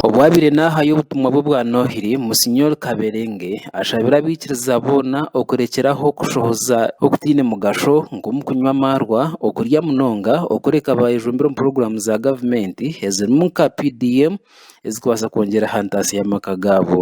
Obwabaire naahayo obutumwa bwe bwa Noohiri, Musenyori Kaberenge ashabire abaikiriza boona okurekyera aho okushohoza okutaine mugasho nk'omukunywa amaarwa, okurya munonga, okureka baayejumbira omu puroguraamu za gavumenti ezirimu nka PDM ezikubaasa kwongyera aha ntaasya y'amaka gaabo.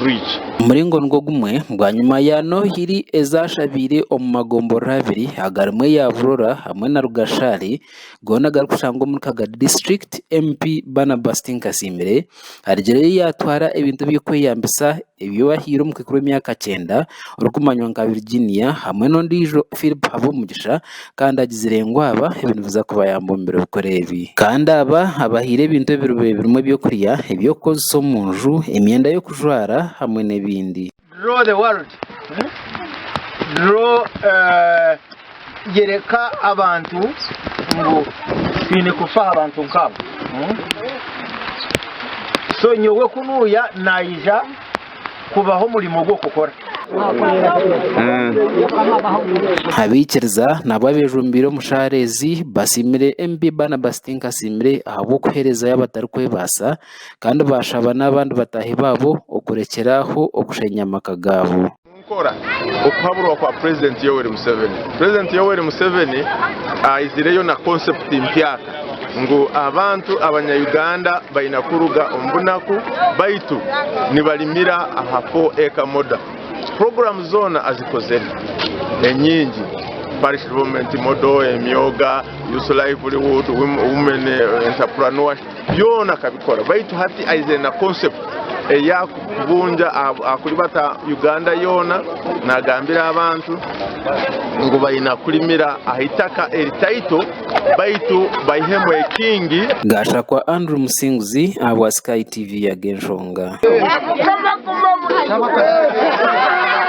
rwigi. Omuringo nigwo gumwe, bwanyima ya Noohiri ezaashabiire omu magomborora abiri agarimu eya Burora hamwe na Rugashaari goona agarikushangwa omuri Kagadi District, MP Barnabas Tinkasimire arigireyo yaatwara ebintu eby'okweyambisa ebi bahaire omukaikuru w'emyaka kyenda orikumanywa nka Virginia hamwe n'ondiijo Phillip Habumugisha. Kandi agizire ngu aba ebi nibiza kubayamba omu biro bikuru ebi. Kandi aba abahaire ebintu ebirube birimu eby'okurya, eby'okukozesa omu nju, emyenda y'okujwara, hamwe n'ebindi. Draw the world Draw Yoreka abantu ngu twine kufa aha bantu nk'abo So nyowe ku nuuya naija kubaha omurimo ogwo kukora. Abaikiriza nabo abejumbiire omu shaara ezi basiimire MP Barnabas Tinkasiimire ahabw'okuherezayo abatarikwebaasa kandi bashaba n'abandi bataahi baabo okurekyera aho okushenya amaka gaabo. Nkora okuhaburwa kwa Purezidenti Yoweri Museveni. Purezidenti Yoweri Museveni aizireyo na konsepti mpya. ngu abantu abanya-Uganda baina kuruga omu bunaku baitu nibalimira aha Four Acre Model. Puroguramu zoona azikozere enyingi, Parish Development Model, emyoga, Youth Livelihood, Women Entrepreneurship, byoona akabikora baitu hati aizire na concept eya kubungya ahakuribata Uganda yoona nagambira abantu ngu baina kulimira aha itaka eritaito. baitu baihemu ekingi. Gashakwa Andrew Musinguzi ahabwa Sky TV yaga enshonga.